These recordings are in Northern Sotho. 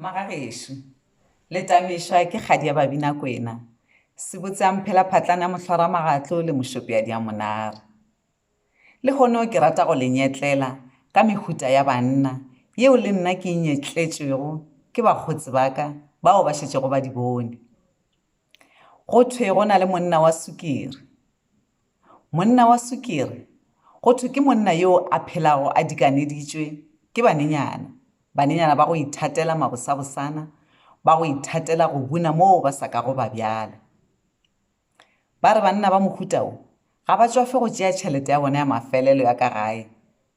Magagešo, le tamešwa ke kgadi ya Babinakwena, sebotse a mphela phatlana ya mohlwaramagatlo le mošope ya diamonare. Lehono ke rata go le nyetlela ka mehuta ya banna yeo le nna ke e nyetletšwego ke bakgotsi ba ka bao ba šetšego ba di bone. Go thwe go na le monna wa sukiri. Monna wa sukiri, Go thwe ke monna yoo a phelago a dikaneditšwe ke banenyana, banenyana ba go ithatela mabosabosana, ba go ithatela go buna moo ba sa kago ba bjala. Ba re banna ba mohuta wo ga ba tšwafe go tšea tšhelete ya bona ya mafelelo ya ka gae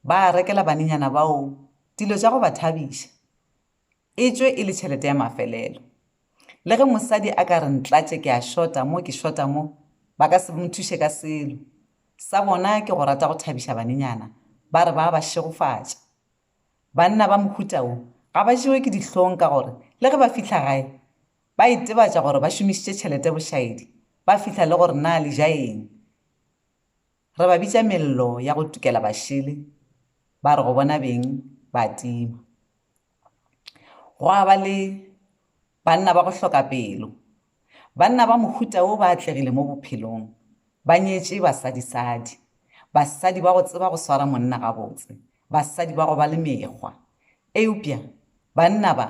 ba rekela banenyana bao dilo tša go ba thabiša. e tšwe e le tšhelete ya mafelelo. Le ge mosadi a ka re ntlatše ke a šota mo ke šota mo, ba ka se nthuše ka selo. Sa bona ke go rata go thabiša banenyana, ba re ba a ba šegofatša. Banna ba mohuta wo ga ba jewe ke dihlong ka gore le ge ba fihla gae ba itebatša gore ba šomišitše tšhelete bošaedi, ba fihla le go re na le ja eng. Re ba bitša mello ya go tukela bašele, ba re go bona beng, ba tima. Gwa ba le banna ba go hloka pelo. Banna ba mohuta wo ba atlegile mo bophelong. Ba nyetše basadisadi, basadi ba go tseba go swara monna gabotse, basadi ba go ba le mekgwa. Eupša banna ba,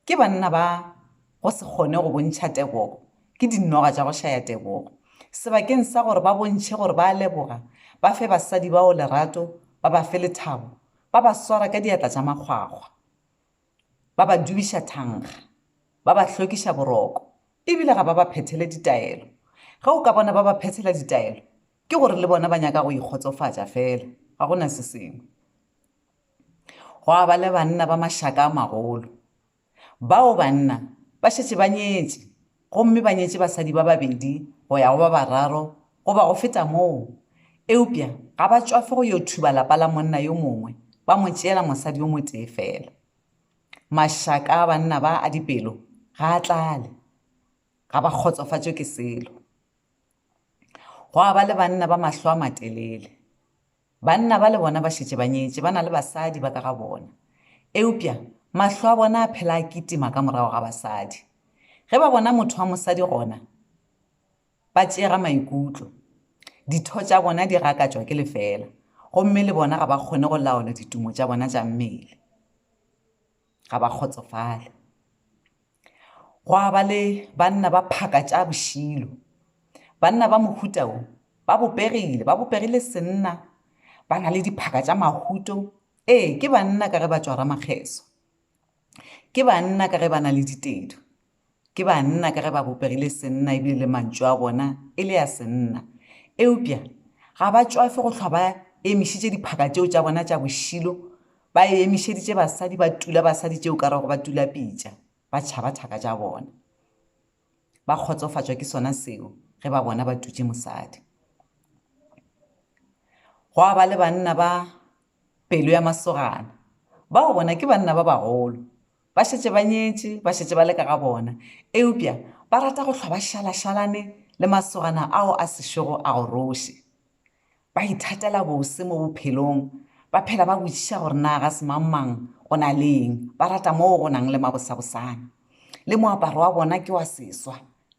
ke banna ba go se kgone go bontšha tebogo, ke dinoga tša go šaya tebogo. Sebakeng sa gore ba bontšhe gore ba a leboga, ba fe basadi bao lerato, ba ba fe lethabo, Ba ba swara ka diatla tša makgwakgwa, ba ba dubiša thankga, ba ba hlokiša boroko, e bile ga ba ba phethele ditaelo. Ge o ka bona ba ba phethela ditaelo, ke gore le bona ba nyaka go ikgotsofatša feela, ga go na se sengwe. Gwa ba le banna ba mašaka a magolo, Bao banna ba šetše ba nyetše gomme ba nyetše basadi ba babedi go ya go ba bararo goba go feta moo, eupša ga ba tšwafe go yo thuba lapa la monna yo mongwe ba mo tšeela mosadi yo motee feela. Mašaka a banna ba a dipelo ga a tlale, ga ba kgotsofatšwe ke selo. Gwa ba le banna ba mahlo a matelele. Banna bale bona ba šetše ba nyetše, ba na le basadi ba ka ga bona. Eupša mahlo a bona a phela a kitima ka morago ga basadi. Ge ba bona motho wa mosadi gona, ba tšeega maikutlo. Ditho tša bona di gakatšwa ke lefela, gomme le bona ga ba kgone go laola ditumo tša bona tša mmele. Ga ba kgotsofale. Gwa ba le banna ba phaka tša bošilo. Banna ba mohuta wo ba bopegile, ba bopegile senna, ba na le diphaka tša mahuto, ee, ke banna ka ge ba tšwara makgeso, ke banna ka ge ba na le ditedu, ke banna ka ge ba bopegile senna e bile le mantšu a bona e le ya senna. Eupša ga ba tšwafe go hlwa ba emišitše diphaka tšeo tša bona tša bošilo Ba emišeditše basadi ba tula basadi tšeo ka rego ba tula pitša, ba tšhaba thaka tša bona. Ba kgotsofatšwa ke sona seo ge ba bona ba tutše mosadi. Gwa ba le banna ba pelo ya masogana, bao bona ke banna ba bagolo, ba šetše ba nyetše, ba šetše ba le ka ga bona, eupša ba rata go hlwa ba šalašalane le masogana ao a sešogo a goroše. Ba ithatela bose mo bophelong, ba phela ba botšiša gore na ga se mang-mang o na le eng, ba rata moo go nang le mabosabosana. Le moaparo wa bona ke wa seswa.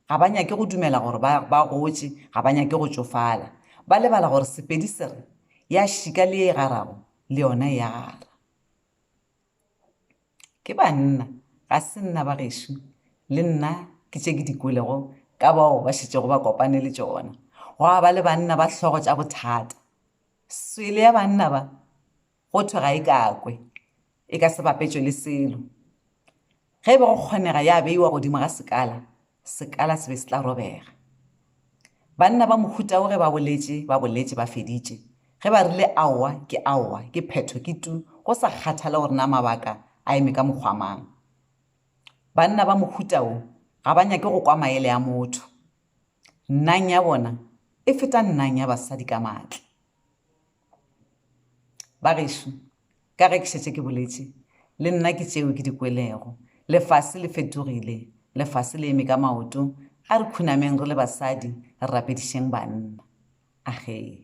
Ga ba nyake go dumela gore ba, ba gotše, ga ba nyake go tšofala. Ba lebala gore Sepedi se re, Ya šika le ye e garago, le yona e a gara. Ke banna, ga se nna ba gešo, le nna ke tše ke di kwelego ka bao ba šetšego ba kopane le tšona. Gwa ba le banna ba hlogo tša bothata. Swele ya banna ba, go thwe ga e kakwe, e ka se bapetšwe le selo. Ge e be go kgonega ya beiwa godimo ga sekala, Sekala se be se tla robega. Banna ba mohuta wo ge ba boletše, ba boletše ba feditše. Ge ba rile aowa ke aowa, ke phetho ke tu, go sa kgathale gore na mabaka a eme ka mokgwa mang. Banna ba mohuta wo ga ba nyake go kwa maele a motho. Nnang ya bona e feta nnang ya basadi ka matla. Bagešo, ka ge ke šetše ke boletše, le nna ke tšeo ke di kwelego. Lefase le fetogile. Lefase le eme ka maoto. A re khunameng re le basadi, re rapedišeng banna. Ahee.